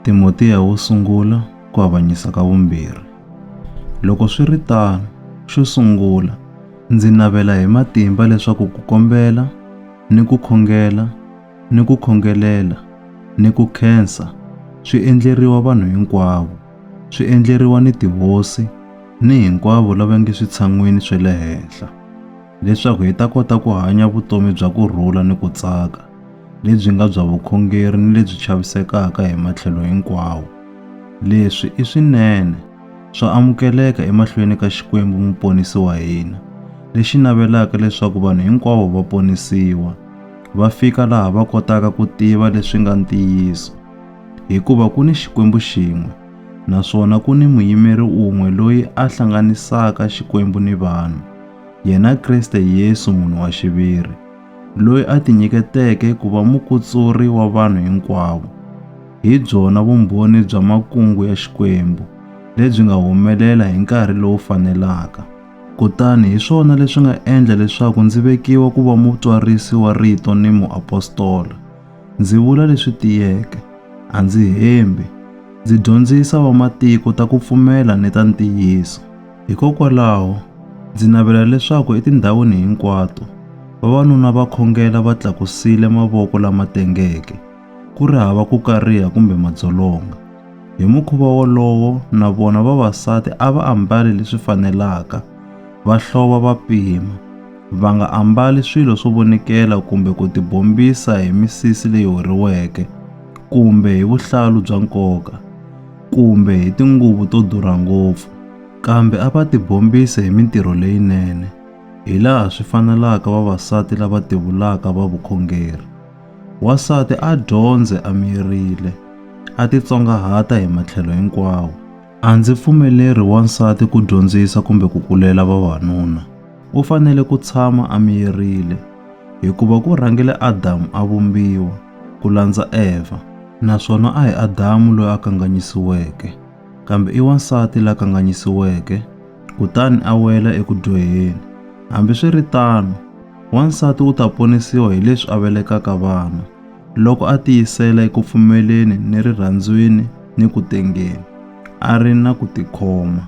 Timotiya wo sungula ku avanyisa ka vumbirhi. Loko swi ri tano, xo sungula, ndzi navela hi matimba leswaku ku kombela ni ku khongela ni ku khongelela ni ku khensa swi endleriwa vanhu hinkwavo, swi endleriwa ni tihosi ni hinkwavo lava nge switshan'wini swa le henhla. leswaku hi ta kota ku hanya vutomi bya ku rhula ni ku tsaka, lebyi nga bya vukhongeri ni lebyi chavisekaka hi matlhelo hinkwawo. Leswi i swinene, swa amukeleka emahlweni ka Xikwembu Muponisi wa hina, lexi navelaka leswaku vanhu hinkwavo va ponisiwa, va fika laha va kotaka ku tiva leswi nga ntiyiso. Hikuva ku ni Xikwembu xin'we, naswona ku ni Muyimeri un'we loyi a hlanganisaka Xikwembu ni vanhu, yena Kriste Yesu munhu wa xiviri, loyi a tinyiketeke ku va mukutsuri wa vanhu hinkwavo, hi byona vumbhoni bya makungu ya Xikwembu lebyi nga humelela hi nkarhi lowu fanelaka. Kutani hi swona leswi nga endla leswaku ndzi vekiwa ku va mutwarisi wa rito ni muapostola. Ndzi vula leswi tiyeke, a ndzi hembi, ndzi dyondzisa vamatiko ta ku pfumela ni ta ntiyiso. Hikokwalaho, ndzi navela leswaku etindhawini hinkwato vavanuna va khongela va tlakusile mavoko lama tengeke, ku ri hava ku kariha kumbe madzolonga. Hi mukhuva wolowo, na vona vavasati a va ambali leswi fanelaka, va hlova va pima, va nga ambali swilo swo vonikela kumbe ku tibombisa hi misisi leyi horiweke kumbe hi vuhlalu bya nkoka. kumbe hi tinguvu to durha ngopfu, kambe a va tibombise hi mintirho leyinene, hilaha swi fanelaka vavasati lava tivulaka va vukhongeri. Wansati a dyondze a miyerile, a titsongahata hi matlhelo hinkwawo. A ndzi pfumeleri wansati ku dyondzisa kumbe ku kulela vavanuna. u fanele ku tshama a miyerile, hikuva ku rhangile Adamu a vumbiwa, ku landza Evha, naswona a hi Adamu loyi a kanganyisiweke, kambe i wansati la kanganyisiweke, kutani a wela eku dyoheni. Hambiswiritano, wansati u ta ponisiwa hi leswi a velekaka vana, loko a tiyisela eku pfumeleni ni rirhandzwini ni ku tengeni, a ri na ku tikhoma.